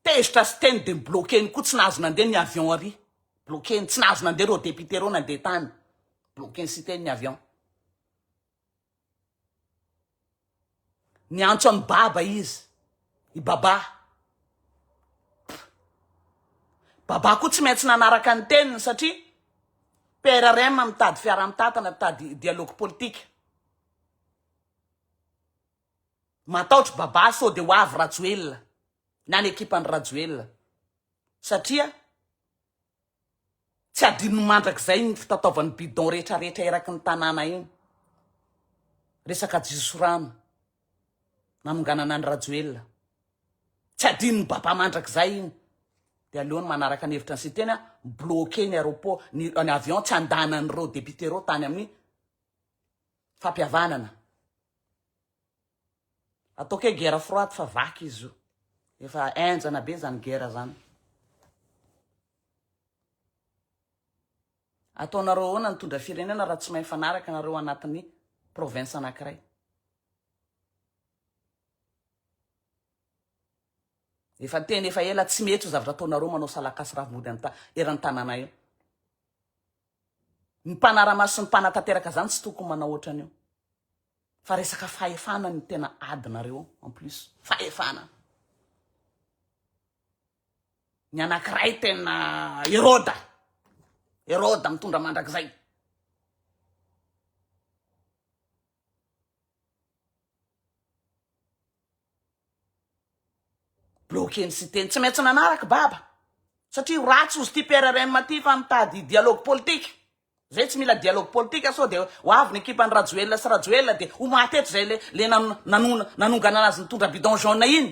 Tezitra sy teny dia bloquer-ny koa, tsy nahazo nandeha ny avion ary, bloquer-ny, tsy nahazo nandeha ireo députés ireo nandeha tany, bloquer-ny sy teny ny avion. Niantso an'i Baba izy, i Baba. Baba koa tsy maintsy nanaraka ny teniny satria PRRM mitady fiaraha-mitatana, mitady dialogue politika. Mataotry babà sao de ho avy Rajoelina na ny ekipany Rajoelina satria tsy adinony mandrakizay ny fitataovany bidon rehetra rehetra eraky ny tanàna iny. Resaka jisorano nanonganana ny Rajoelina. Tsy adinony babà mandrakizay iny. Dia aleony manaraka ny hevitra ny siteny a, bloqué ny aéroport, ny, ny avion tsy andanan'ireo député ireo tany amin'ny fampihavanana ataoko hoe guerre froide fa vaky izy io efa enjana be zany guerre zany ataonareo ahoana ny tondra firenena raha tsy mahay fanaraka nareo anatin'ny province anakiray efa teny efa ela tsy mety io zavatra ataonareo manao salakasy ravimody anta eran'ny tanàna io Ny mpanaramaso sy ny mpanatanteraka izany tsy tokony manao ohatran'io. Fa resaka fahefana ny tena adinareo en plus. Fahefana. Ny anankiray tena Heroda. Heroda mitondra mandrakizay. Bloquer ny siteny. Tsy maintsy nanaraka baba. Satria ratsy ozy ty Pierre Renma ty fa mitady dialogue politique. Zay tsy mila dialogue politique sao dia ho avy ny ekipan'i Rajoelina sy Rajoelina dia ho maty eto zay le le nanonganana azy nitondra bidon jaune iny.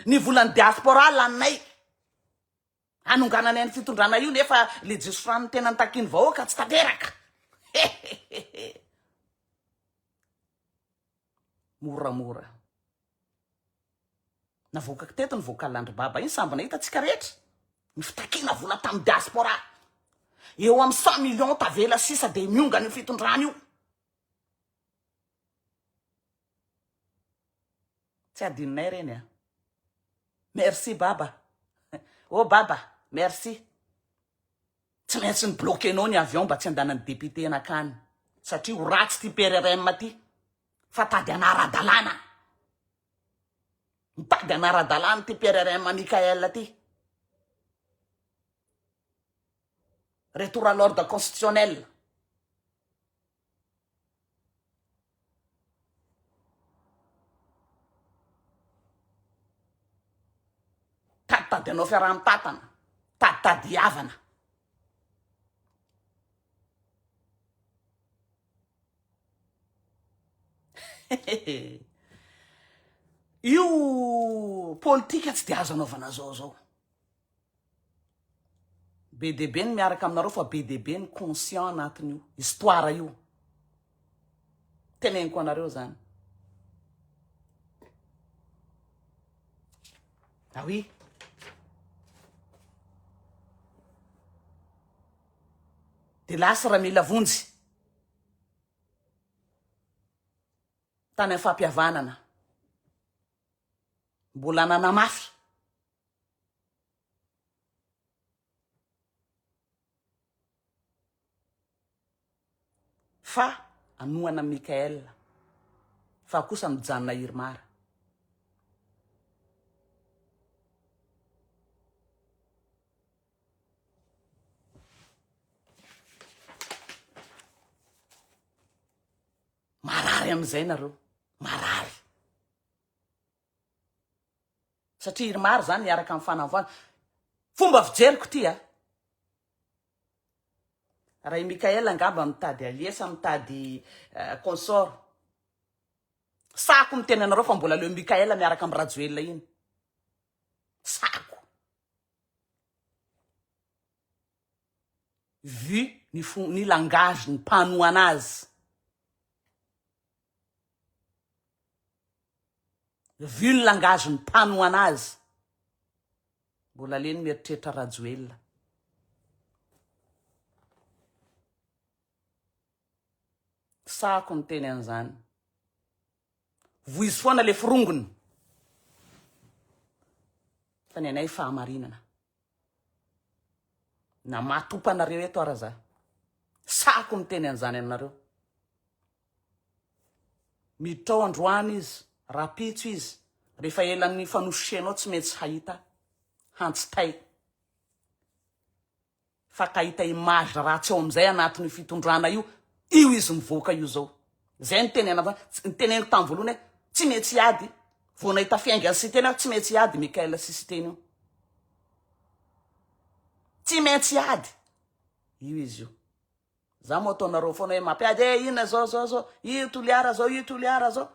Ny volan'ny diaspora laninay. Hanonganany any fitondrana io nefa le jiosy franc ny tena nitakiany vahoaka tsy tanteraka hehehehe moramora navoakako teto ny vocal andry baba iny samby nahita tsika rehetra ny fitakiana vola tamin'ny diaspora eo amin'ny cent millions tavela sisa dia miongana io fitondrana io Tsy adinonay reny a. Merci baba. Oh baba, merci. Tsy maintsy ny bloquenao ny avion mba tsy andanan'ny député nakany. Satria ho ratsy ty PRRM ty. Fa tady anara-dalàna. Mitady anara-dalàna ty PRRM Michael ty. Retour à l'ordre constitutionnel. Taditady anao fiaraha-mitantana, taditady havana. Io politika tsy dia azo anaovana zao zao. Be dia be ny miaraka aminareo fa be dia be ny conscient anatin'io histoire io. Teneniko anareo zany. Ah oui. Dia lasa raha mila vonjy. Tany amin'ny fampihavanana. Mbola nanamafy. fa anohana an'i Mickaël fa kosa mijanona i Irmar. Marary amin'izay nareo, marary. Satria irmar izany miaraka amin'ny fanavoana. Fomba fijeriko ity a. Raha i Michael angamba mitady allié sa mitady eh, consort. Sako miteny anareo fa mbola leo Michael miaraka amin'ny Rajoelina iny. Sako. Vu ny, fo, ny langage, ny mpanohana azy. Ville angazy ny mpanohana azy. Mbola leny mieritreritra Rajoelina. Sahako ny teny an'izany. Voizy foana le forongony. Fa ny anay fahamarinana. Na matopanareo eto ara za. Sahako ny teny an'izany aminareo. Miditra ao androany izy, rapitso izy, rehefa ela ny fanosianao tsy metsy hahita hantsitay fa kahita image ratsy ao amin'izay anatin'io fitondrana io, io izy mivoaka io zao. Zay ny teny anavona, ny teneniko tamin'ny voalohany hoe tsy metsy hiady, vao nahita fiainga ny siteny aho tsy metsy hiady Michael sy siteny io. Tsy metsy hiady, io izy io. Za moa ataonareo foana hoe mampiady e ina zao zao zao io toliara zao io toliara zao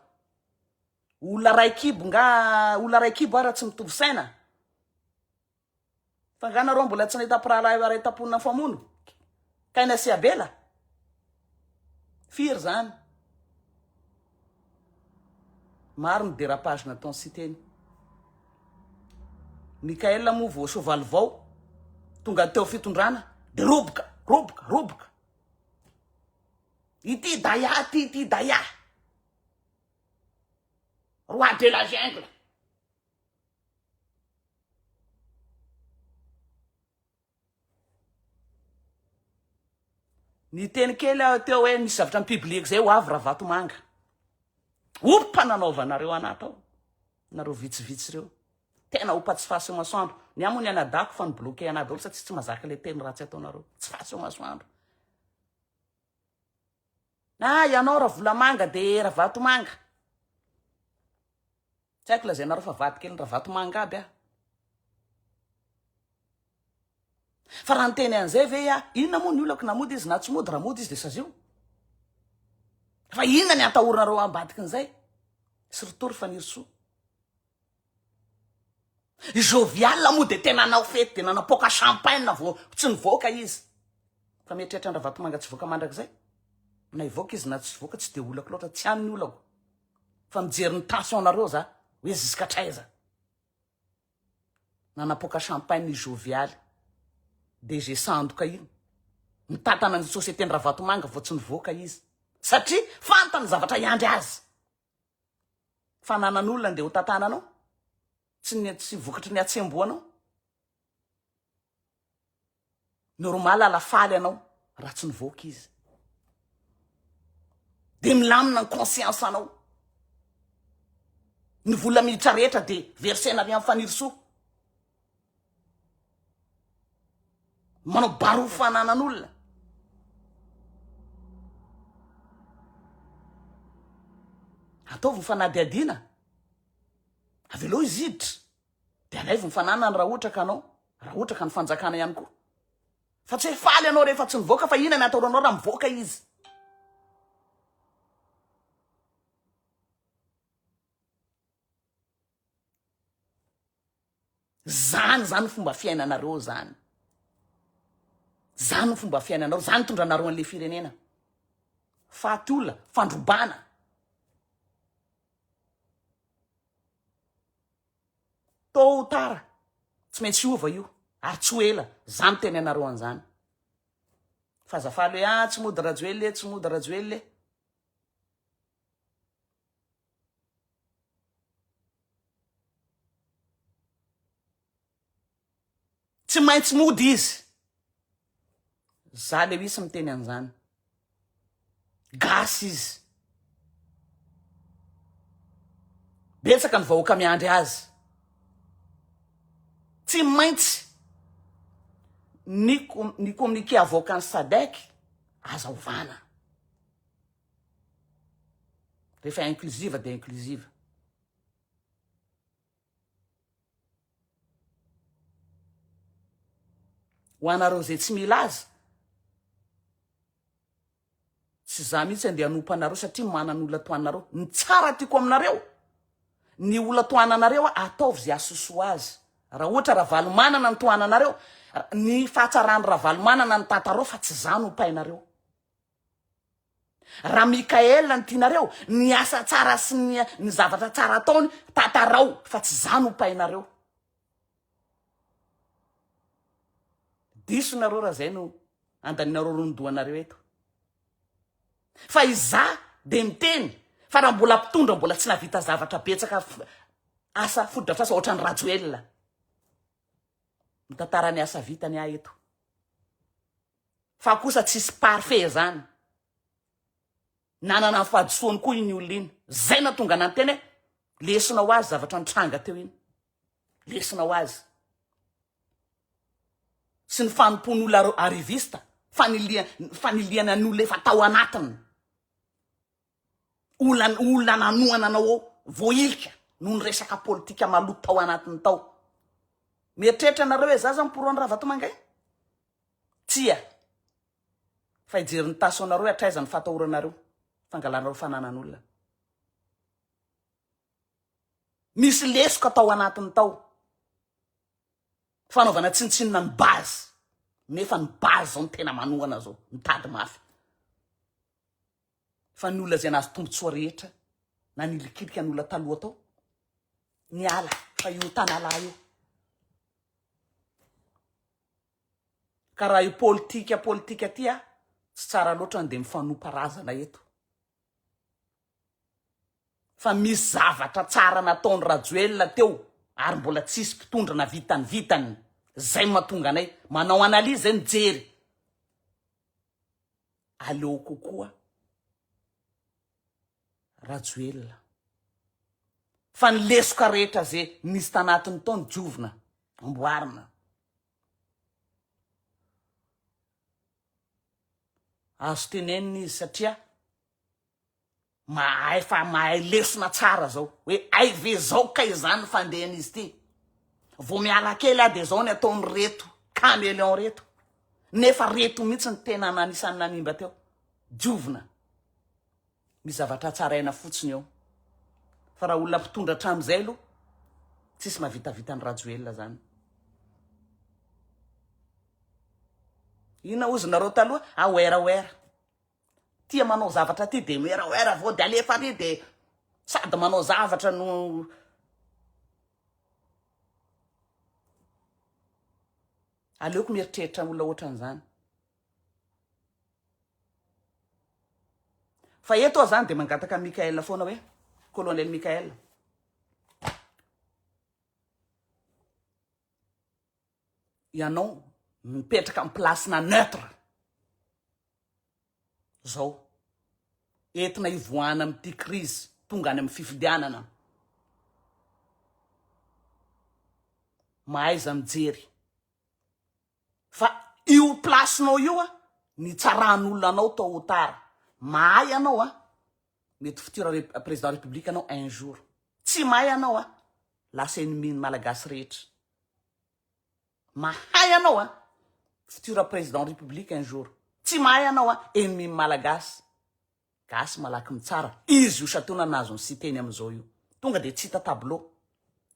olona ray kibo nga olona ray kibo ara tsy mitovy saina fa nga nareo mbola tsy nahita mpirahalahy eo aray tapona nifamono kaina sy abela firy zany Maro ny dérapage nataon'i Siteny. Michael moa vao soavaly vao tonga teo fitondrana dia roboka, roboka, roboka. Ity Daya ity, ity Daya. Roi de la jungle. Niteny kely aho teo hoe misy zavatra mi-publier-ko zay ho avy Ravatomanga. Ho mpananaovanareo anaty ao, nareo vitsivitsy reo. Tena ho pa tsy fahaseho masoandro. Ny ahy moa ny anadahako fa ni-bloquer anah daholo satsia tsy mazaka le teny ratsy ataonareo. Tsy fahaseho masoandro. Ah ianao Ravolamanga de Ravatomanga. Tsy haiko lazainareo fa vadikelin ravatomanga aby aho. Fa raha niteny an'izay ve aho, inona moa ny olako na mody izy na tsy mody, raha mody izy dia sazio. Fa inona ny atahoranareo ambadikin'izay? Sy ritory fanirisoa. Jovial moa dia tena nanao fety dia nanapoaka champagne vao tsy nivoaka izy. Fa mieritreritra an-dravatomanga tsy voaka mandrakizay? Na hivoaka izy na tsy voaka tsy dia olako loatra, tsy any ny olako. Fa mijery ny tension nareo za hoe ziskatraiza nanapoaka champagne i Jovialy DG sandoka iny mitantana ny société ndravatomanga vao tsy nivoaka izy satria fantany zavatra hiandry azy fananan'olona ndeha ho tantananao tsy ny tsy vokatry ny atsembohanao Normal ala faly anao raha tsy nivoaka izy. Dia milamina ny conscience anao. Ny vola miditra rehetra dia versena avy amin'ny fanirisoa. Manao barofo fananan'olona. Ataovy ny fanadihadiana. Avelao izy hiditra. Dia alaivo ny fananany raha ohatra ka anao, raha ohatra ka ny fanjakana ihany koa. Fa tsy hoe faly ianao rehefa tsy nivoaka fa inona ny ataoranao raha mivoaka izy. Zany zany fomba fiainanareo zany. Zany fomba fiainanareo, zany tondranareo an'le firenena. Faty olona, fandrobana. Tot ou tard, tsy maintsy hiova io, ary tsy ho ela, za miteny anareo an'zany. Fa aza faly hoe, ah, tsy mody Rajoelina e, tsy mody Rajoelina e. Tsy maintsy mody izy. Za Lewis miteny an'izany. Gasy izy. Betsaka ny vahoaka miandry azy. Tsy maintsy ny, ny communiqué avoakan'ny SADEC aza ovana. Rehefa inclusive dia inclusive. Ho anareo izay tsy milaza, tsy za mihitsy andeha hanompo anareo satria manana olona toa anareo. Ny tsara tiako aminareo, ny olona toa ananareo ataovy izay asosoa azy. Raha ohatra Ravalomanana ny toa ananareo, ny fahatsaran'ny Ravalomanana ny tantarao fa tsy za no painareo. Ra Mickaël no tianareo ny asa tsara sy ny ny zavatra tsara ataony tantarao fa tsy za no painareo. Diso nareo ra zay no andaninareo ronodohanareo eto. Fa izaho de miteny fa ra mbola mpitondra mbola tsy navita zavatra betsaka asa fotodrafitrasa ohatrany Rajoelina mitantara ny asa vitany ahy eto. Fa kosa tsisy parfait zany. Nanana ny fahadisoany koa iny olona iny. Zay natonga nanteny hoe lesona ho azy zavatra nitranga teo iny. Lesona ho azy. Sy ny fanompoan'olona arriviste, faniliha, fanilihana ny olona efa tao anatiny. Olona olona nanohana anao ao voahilika noho ny resaka politika maloto tao anatiny tao. Mieritreritra anareo hoe za zany pro an'i Ravatomanga iny? Tsia. Fa hijery ny taso anareo hoe hatraiza ny fatahoranareo, fangalanareo fananan'olona. Misy lesoka tao anatiny tao. Fanaovana tsinontsinona ny base. Nefa ny base zao ny tena manohana zao, mitady mafy. fa ny olona izay nahazo tombotsoa rehetra na nilikilika ny olona taloha tao niala fa io tanalahy io ka raha io politika politika ty a tsy tsara loatra ny dia mifanompa razana eto fa misy zavatra tsara nataony Rajoelina teo ary mbola tsisy mpitondra na vitany vitany zay matonga anay manao analyse mijery aleo kokoa Rajoelina fa ny lesoka rehetra ze nisy tanatiny tao ny diovina amboarina azo tenenina izy satria Mahay fa mahay lesona tsara zao hoe hay ve zao kay zany fandehan'izy ty. Vao miala kely ah de zao ny ataon'ireto caméléon reto. Nefa reto mihitsy ny tena nanisan'ny nanimba teo. Diovina. Misy zavatra hatsaraina fotsiny eo. Fa raha olona mpitondra hatramin'izay aloha tsisy mahavitavita an'i Rajoelina zany. Inona ozy nareo taloha? Aware aware. Tia manao zavatra ty de miwerawera avao de alefa ary de sady manao zavatra no aleoko mieritreritra olona ohatran'izany fa eto aho zany de mangataka Michael foana hoe colonel Michael ianao mipetraka am place-na neutre zao entina hivoahana amin'ity crise tonga any am fifidianana. Mahaiza mijery fa io place-nao io an nitsaran'olona anao tot ou tard mahay ianao an mety futur président république ianao un jour tsy mahay ianao an lasa ennemi-ny malagasy rehetra. Mahay anao a! Futur président république un jour. Tsy mahay anao a! Ennemi ny Malagasy. Gasy malaky mitsara. Izy io Satoana nahazo ny Siteny amin'izao io. Tonga dia tsy hita tableau.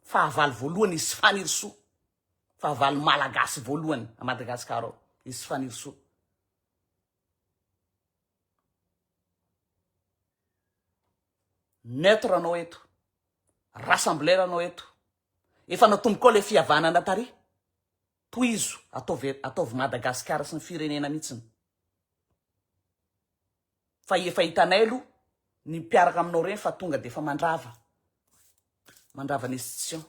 Fahavalo voalohany izy Fanirisoa. Fahavalo Malagasy voalohany à Madagascar ao. Izy Fanirisoa. Neutre anao eto. Rassembler anao eto. Efa natombokao ilay fihavanana tary. Tohizo, ataovy ataovy Madagascar sy ny firenena mitsiny. Fa efa hitanay aloha ny mpiaraka aminao reny fa tonga de efa mandrava. Mandrava ny institution.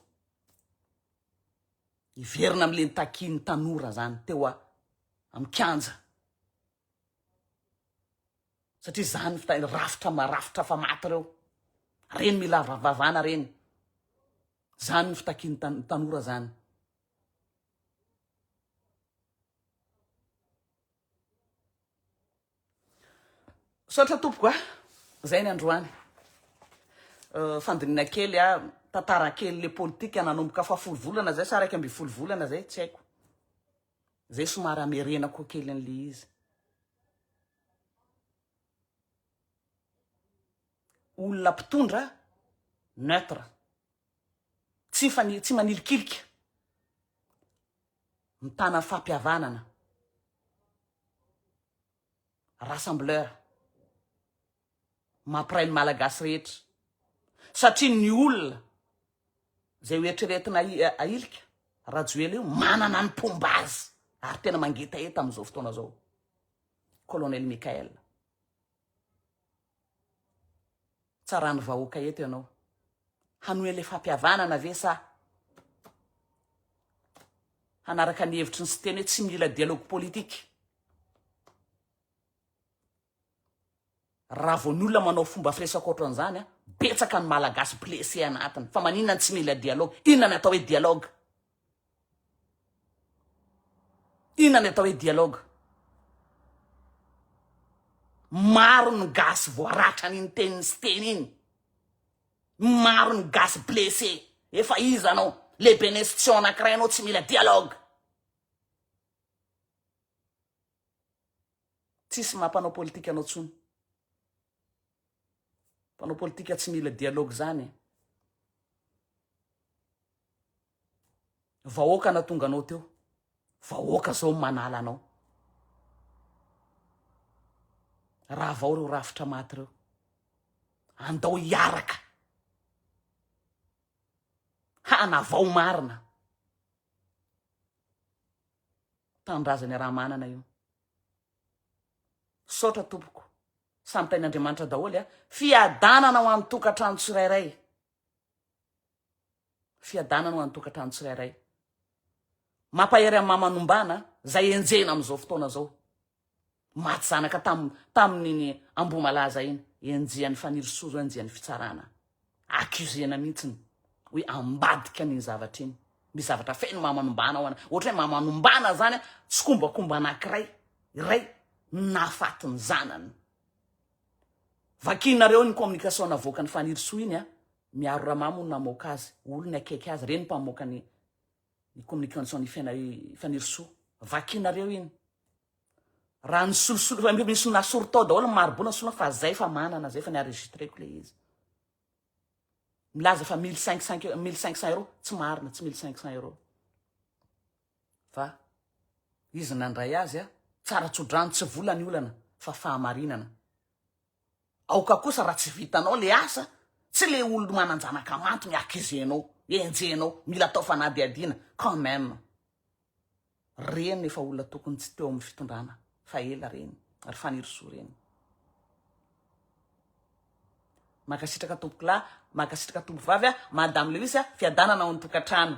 Hiverina amle nitakiany tanora zany teo a am kianja. Satria zany fita ireo rafitra marafitra fa maty ireo. Reny mila vavana reny. Zany ny fitakian'ny tan tanora zany. Misaotra tompoko a. Zay ny androany. Uh, fandinina kely a, tantara kely le politika nanomboka fahafolo volana zay sa raika ambin'ny folo volana zay, tsy haiko. Zay somary amerena koa kely an'le izy. Olona mpitondra neutre. Tsy fani tsy manilikilika. Mitana fampihavanana. rassembleur mampiray ny Malagasy rehetra satria ny olona izay ho eritreretina ahilika Rajoelina io manana ny mpomba azy ary tena mangetaheta amin'izao fotoana izao Colonel Michael tsaran'ny vahoaka eto ianao. Hanohela fam-pihavanana ve sa hanaraka ny hevitry ny Siteny hoe tsy mila dialogue politique? Raha vao ny olona manao fomba firesaka ohatran'izany, betsaka ny Malagasy blessé anatiny. Fa maninona no tsy mila dialogue? Inona no atao hoe dialogue? Inona ny atao hoe dialogue? Maro ny gasy voaratra an'iny teniny sy teny iny. Maro ny gasy blessé. Efa iza anao? Lehiben'ny institution anankiray anao tsy mila dialogue. Tsisy maha mpanao politika anao tsony. Mpanao politika tsy mila dialogue zany e. Vahoaka natonga anao teo. Vahoaka zao manala anao. Ravao reo rafitra maty reo. Andao hiaraka. Hanavao marina. Tanindrazany Ramanana io. Misaotra tompoko. Samy tain'Andriamanitra daholo a. Fiadanana ho an'ny tokantrano tsirairay. Fiadanana ho an'ny tokantrano tsirairay. Mampahery amin'ny mama nombana zay enjehina amin'izao fotoana zao. Maty zanaka tam tamin'iny Ambohimalaza iny i Anjiany Fanirisoa zao Anjiany Fitsarana. Accusena mihitsiny hoe ambadika an'iny zavatra iny. Misy zavatra feno mamanombana ao ana. Ohatra hoe mamanombana zany tsikombakomba anankiray iray nahafaty ny zanany. Vakianareo iny communication navoakan'i Fanirisoa iny a. Miaro Ramamo no namoaka azy, olony akaiky azy, reny mpamoaka ny ny communication ny fiaina i Fanirisoa vakinareo iny raha ny solosolo fa misy nasoro tao daholo ny maribona solo fa zay fa manana zay fa ny enregistreko le izy milaza fa mille cinq cent mille cinq cent euros tsy marina tsy mille cinq cent euros fa izy nandray azy a tsara tsodrano tsy vola ny olana fa fahamarinana Aoka kosa raha tsy vitanao le asa, tsy le olon manan-janaka manto ny hakizenao, enjehinao, mila atao fanadihadiana quand même. Reny efa olona tokony tsy teo amin'ny fitondrana fa ela reny, ry Fanirisoa reny. Mankasitraka tompokolahy, mankasitraka tompovavy a, Madame Lewis a, fiadanana ao an-tokantrano.